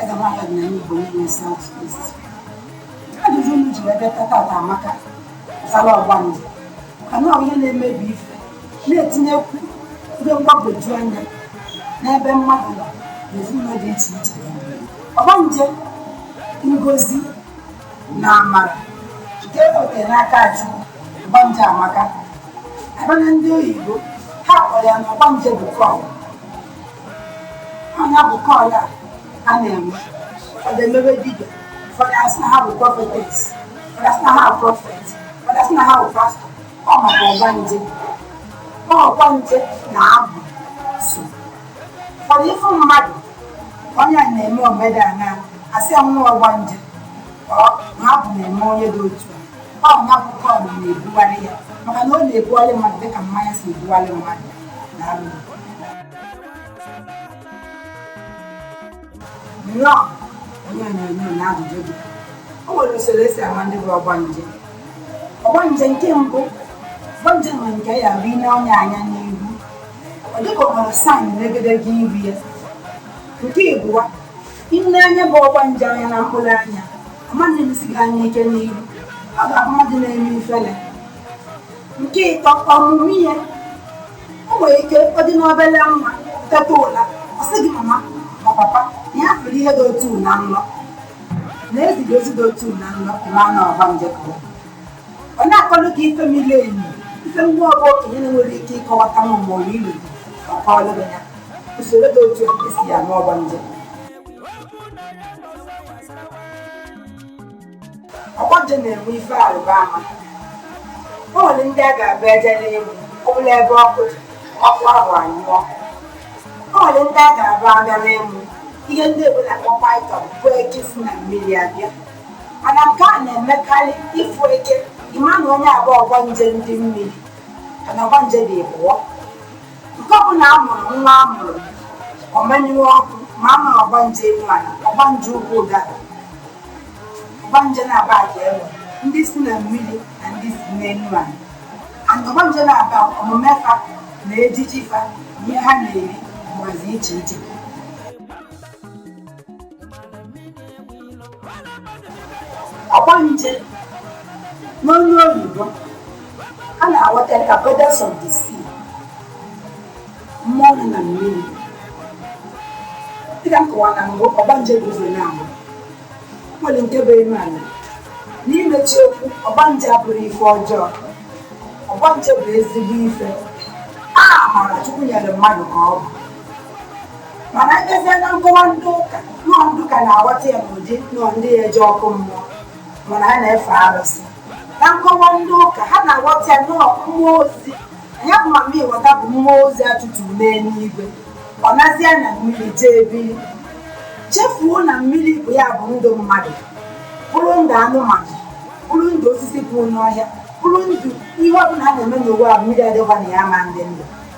Eze nwaanyị ọdịnala Igbo in South East. Ajụjụ unu jiri ebe tata ata amaka gbasala ọgbanje kana ọ ya na-emebi ife na-etinyekwu ihe mgbagwoju anya n'ebe mmadụ nọ na ezinụlọ dị iche iche ọgbanje ngozi na amara nke oke n'aka chukwu ọgbanje amaka a baa na ndị oyibo ha kpọrọ ya na ọgbanje bụ call ọ ya bụ call a na-eme ọ ga-emebe dibịa ụfọdụ asị na ha bụ prophetess ụfọdụ asị na ha bụ prophet ụfọdụ asị na ha bụ pastor ọ maka ọgbanje ọgbanje na-abụ so ụfọdụ ị fụ mmadụ onye a na-eme omenala asị ya nwa ọgbanje ọ na abụ na-eme onye dị otu a ọ ya bụ call na-ebugharị ya maka na ọ na-ebugharị mmadụ dịka mmanya si ebugharị mmadụ nnọọ onye onyonyo na ajụjụ gị o nwere usoro e si ama ndị bụ ọgbanje ọgbanje nke mbụ ọgbanje nwere nke ya bụ i nee onye a anya n'ihu ọ dịka o nwere sign n'egedege iru ya nke ịbụa i nee ya bụ ọgbanje anya na mkpụrụ anya ọ maghị enesi gị anya ike n'ihu ọ ga-abụ mmadụ na-eme ifele nke ịtọ ọmụma ihe o nwere ike ọ dị n'obere nwa teta ụla ọ sị gị mama ma papa na ya fụrụ ihe dị otu a na nlọ na e ziri ozi dị otu a na nlọ ma na ọgbanje ka ọ na-akọlụ gị ife mili emi ife na ọ bụ okenye na-enwere ike ịkọwata ma ma ọ bụ ilu gị ma kọọlụ gị ya usoro dị otu a e si ama ọgbanje ọgbanje na-enwe ife arịba ama o nwere ndị a ga-abụ ejere ịmụ ọ bụrụ ebe ọkụ dị ọkụ ahụ anyụọ o nwere ndị a ga-abụ agara ịmụ ihe ndị oyibo na-akpọ python bụ eke si na mmiri abịa mana nke a na-emekarị ị fụ eke ị ma na onye a bụ ọgbanje ndị mmiri kana ọgbanje dị ịbụọ nke ọ bụ na a mụrụ nwa a mụrụ ọ menyụọ ọkụ mara na ọgbanje elu ala ọgbanje ukwu ụdara ọgbanje naabọ a na-enwe ndị si na mmiri na ndị si n'elu ala and ọgbanje naabọ omume fa na ejiji fa na ihe ha na-eri na-adị iche iche ọgbanje n'olu oyibo a na-aghọta ka goddess of the sea mmụọ nọ na mmiri dịka m kọwara na mbụ ọgbanje bụ ụzọ naabọ e nwere nke bụ elu ala n'imechi okwu ọgbanje abụrọ ife ọjọọ ọgbanje bụ ezigbo ife amara chukwu nyere mmadụ ka ọ bụ mana ejezie na nkọwa ndị ụka nọọ ndị ụka na-aghọta ya n'ụdị nọọ ndị ga-eje ọkụ mmụọ mana ha na-efe arụsị na nkọwa ndị ụka ha na-aghọta ya nọọ mmụọ ozi ya bụ mamịwọta bụ mmụọ ozi a tụturu n'eluigwe ọ nazie na mmiri jee biri chefuo na mmiri bụ ya bụ ndụ mmadụ bụrụ ndụ anụmanụ bụrụ ndụ osisi bụ n'ọhịa bụrụ ndụ ihe ọbụla a na-eme n'ụwa a mmiri adịghị na ya ọ ma-adị ndụ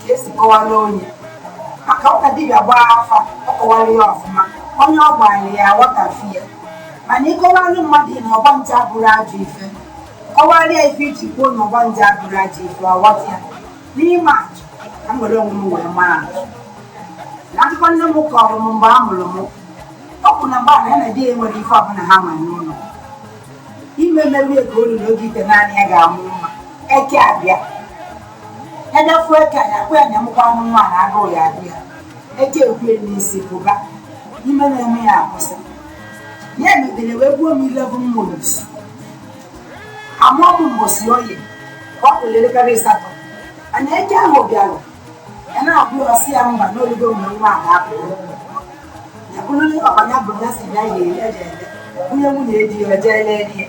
ka esi kọwara onye maka ọka dibịa gbaa afa ọ kọwara ya ọfụma onye ọ gbaala ya aghọtafi ya mana ịkọwalụ mmadụ na ọgbanje abụrọ ajọ ife kọwara ya ife e ji kwuo na ọgbanje abụrọ ajọ ife ọ ghọta ya n'ịma atụ ka m were onwe m wee maa atụ na akụkọ nne m kọrọ m mgbe a mụrụ m ọ bụ na mgbe a na ya na di ya enwerọ ife ọbụla ha nwere n'ụlọ ime m erugo o luo oge itenaanị ya ga-amụ nwa eke abịa edefue ka ya kwe na mkwa anụ nwa na agụụ ya agụ ya eke ekwe n'isi pụba ime na-eme ya akwụsị ya emedere wee buo m 11 months amụọ m mbọsị oye ka ọ kụrụ elekere asatọ ana eke ahụ bịara ya na-abụ ọ sị ya mba na o lugo mgbe nwa a ga-apụrụ ya bụrụ ọbanya bụ ya si bịa ya eje jee lee onye nwunye di ya jee lee di ya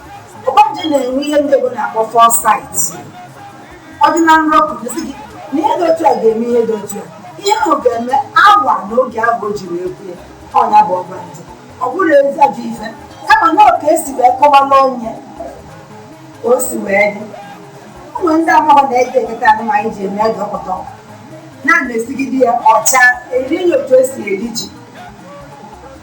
ọgbanje na-enwe ihe ndị Igbo na-akpọ foresight ọ dị na nrọ pụta sị gị na ihe dị otu a ga-eme ihe dị otu a ihe ahụ ga-eme awa na oge ahụ o jiri ekwu ya ọ nya bụ ọgbanje ọ bụrọ ezi ajọ ife kama na ọ ka esi wee kọwala onye ka o si wee dị ụmụ ndị amaghọ na-eji eketa anụ ma anyị ji eme ego pụta na-esigide ya ọcha eri ya otu esi eri ji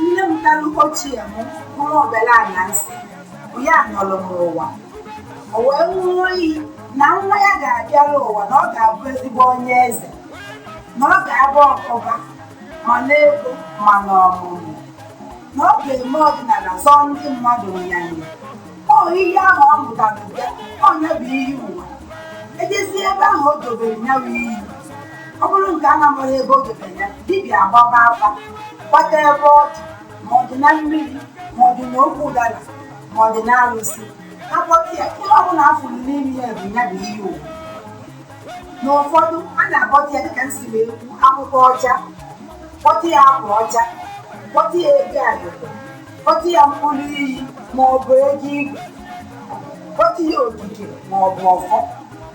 nne m talụ ochie m bụrụ obere a na-asị bụ ya nọrọ m ụwa o wee ṅụọ iyi na nwa ya ga-abịara ụwa na ọ ga-abụ ezigbo onye eze na ọ ga-aba ụba ma n'ego ma n'ọmụmụ na ọ ga-eme ọdịnala zọọ ndị mmadụ nyanya ọ iyi ahụ ọ ṅụtara bịa ọ ya bụ iyi ụwa ejezie ebe ahụ o dobere ya bụ iyi ọ bụrụ nke a na-amaghị ebe o dobere ya dibịa agbaba afa gbata ebe ọ dị ma ọ dị na mmiri ma ọ dị na ukwu ụdara ma ọ dị na arụsị akpọta ya ihe ọ bụla a fụrụ n'ime ya bụ ya bụ iyi ụwa na ụfọdụ a na-akpọta ya dịka m si wee kwu ọkụkọ ọcha kpọta ya akwa ọcha kpọta ya ego agụgụ kpọta ya mkpụrụ iyi ma ọ bụ ego igwe kpọta ya okike ma ọ bụ ọfọ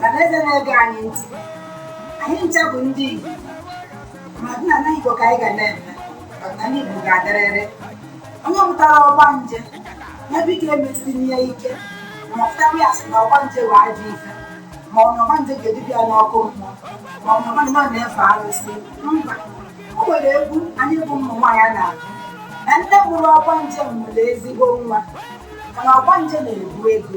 na eze na-ege anyị ntị anyị ncha bụ ndị Igbo ma ọdịnala Igbo ka anyị ga na-eme ọdịnala Igbo ga-adịrịrị onye mụtara ọgbanje ya biko emesina ya ike ma ọfụtakwa ya sị na ọgbanje bụ ajọ ife ma ọ na ọgbanje ga-eduba ya n'ọkụ mmụọ ma ọ na ọgbanje na-efe arụsị mba o nwere egwu anyị bụ ụmụ nwaanyị na-agụ na nne mụrụ ọgbanje nwere ezigbo nwa mana ọgbanje na-ebu ego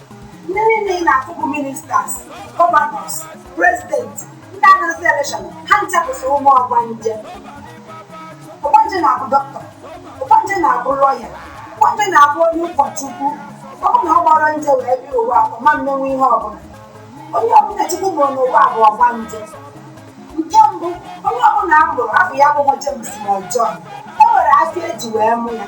ndị niile ị na-afụ bụ ministers gọvanọs prezidenti ndị na-azọ elekshọn ha ncha bụsị ụmụ ọgbanje ọgbanje na-abụ dọkịta ọgbanje na-abụ lọya ọgbanje na-abụ onye ụkọchukwu ọ bụ na ọ gbara nje wee bịa ụwa ọ ma mmenwu ihe ọbụla onye ọbụla Chukwu mụrụ n'ụwa bụ ọgbanje nke mbụ onye ọbụla a mụrụ afa ya bụ James ma ọ John e nwere afọ eji wee mụ ya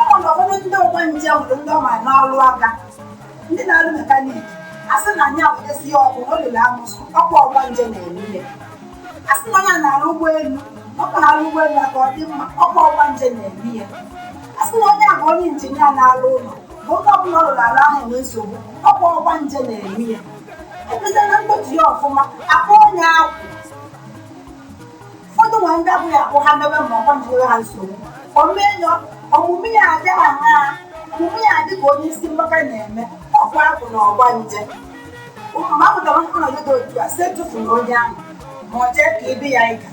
ọ bụ na ụfọdụ ndị ọgbanje nwere ndị ọ ma n'ọrụ aka ndị na-arụ mekaniki a sị na anya awụnyesi ya ọkụ na o lere amụsụ ọkwa ọgbanje na-eme ya a sị na onye a na-arụ ụgbọelu ọ ka arụ ụgbọelu a ka ọ dị mma ọkwa ọgbanje na-eme ya a sị na onye a bụ onye injinia na-arụ ụlọ ma ebe ọbụla ọ rụrụ ala ahụ enwe nsogbu ọkwa ọgbanje na-eme ya ebido na mgbochi ya ọfụma akpọ onye akwụ ụfọdụ nwere ndị abụghị abụ ha mebe ma ọgbanje nyewe ha nsogbu omume enyo omume ya adị ha ha omume ya adị ka onye isi mgbaka na-eme ọkwa ọ bụ na ọgbanje mgbe a pụtara ọnọdụ dị otu a si etufuna onye ahụ ma ọ jee kebe ya ịga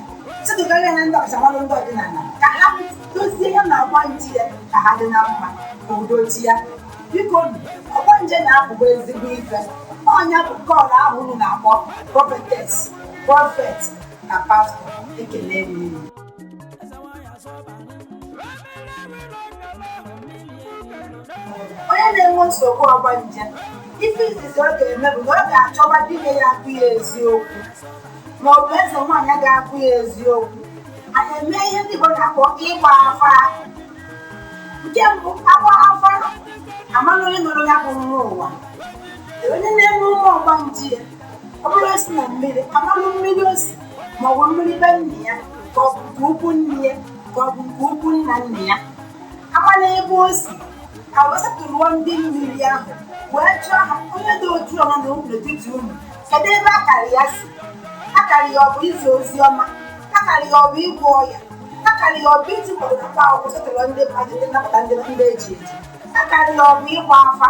chedogara ya ndị ọkachamara ndị ọdịnala ka ha dozie ya na ọgbanje ya ka ha dị na mma ka udo chịa biko ọgbanje na-abụgo ezigbo ife ọ nya bụ kọl ahụ unu na-akpọ prọfetes prọfet na pastọ ekele m unu onye na-enwe nsogbu ọgbanje ife izizi ọ ga-eme bụ na ọ ga-achọba dibịa ya agwa ya eziokwu ma ọ bụ eze nwaanyị ga-agwa ya eziokwu a na-eme ihe ndị Igbo na-akpọ ịgba afa nke mbụ agba afa amara onye nọrọ ya bụ nwa ụwa onye na-eme ụmụ ọgbanje ọ bụrụ o si na mmiri amalụ mmiri o si ma ọ bụ mmiri be nna ya ka ọ bụ nke ikwu nne ya ka ọ bụ nke ikwu nna nna ya amalụ ebe o si ka wee setụlụọ ndị mmiri ahụ wee jụọ ha onye dị otu ọma na ụmụ n'etiti unu kedu ebe akara ya si akara ya ọ bụ izi ozi ọma akara ya ọ bụ ịgwọ ọya akara ya ọ bụ iti mkpọrọgwụ na mkpa akwụkwọ setụlụọ ndị mmadụ ndị nnapụta ndị ndị eji eji akara ya ọ bụ ịgba afa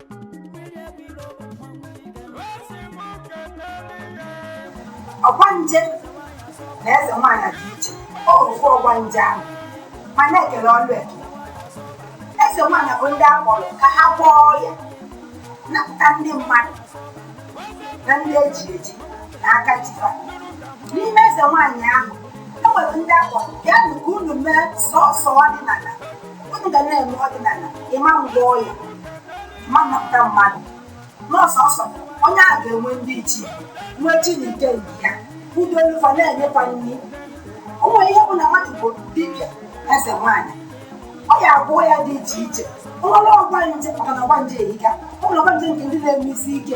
ọgbanje na eze nwaanyị dị iche ọ ofu ọgbanje ahụ mana e kele ọlụ eke eze nwaanyị bụ ndị a kpọrọ ka ha gwọọ ọya napụta ndị mmadụ na ndị eji eji na aka ji fa n'ime eze nwaanyị ahụ e nwere ndị a kpọrọ bịanụ ka unu mee sọsọ ọdịnala unu ga na-eme ọdịnala ịma ngwọ ọya ma napụta mmadụ na sọsọ onye a ga-enwe ndị ichie nwee chi na ike nke ya o dolu fa na-enye fa nri o nwere ihe bụ na mmadụ bụ dibịa eze nwaanyị ọ ya agwọ ọya dị iche iche o nwere ọgbanje maka na ọgbanje erika o nwere ọgbanje nke ndị na-eme isi ike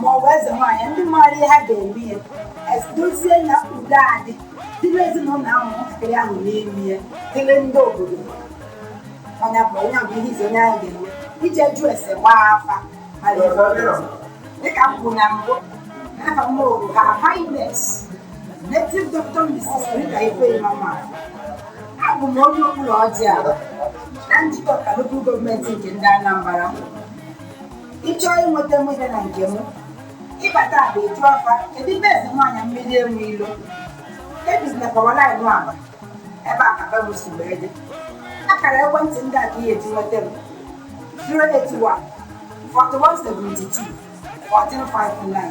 ma ọ bụ eze nwaanyị ndị maara ihe ha ga-eme ya es- dozie na udo adị dịrị ezinụlọ ahụ nwatakịrị ahụ n'elu ya dịrị ndị obodo onye bụ onye bụ ihe izizi onye ahụ ga-eme ije jụ ese gbaa afa mara ebe ọ ga-esi. dịka m kwuru na mbụ n'afa m bụ her highness native doctor mrs rita ifeyinwa nwafor abụ m onye okpuloji abba na njikọka local gọọmenti nke ndị anambra ị chọọ inweta mụde na nke m ị bata abba ị jụa fa kedu ebe eze nwaanyị mmiri enwe ilo ebizi na power line abba ebe a ka be m si wee dị akara ekwentị ndị a ka ị ya-eji nweta m 081 4172 1459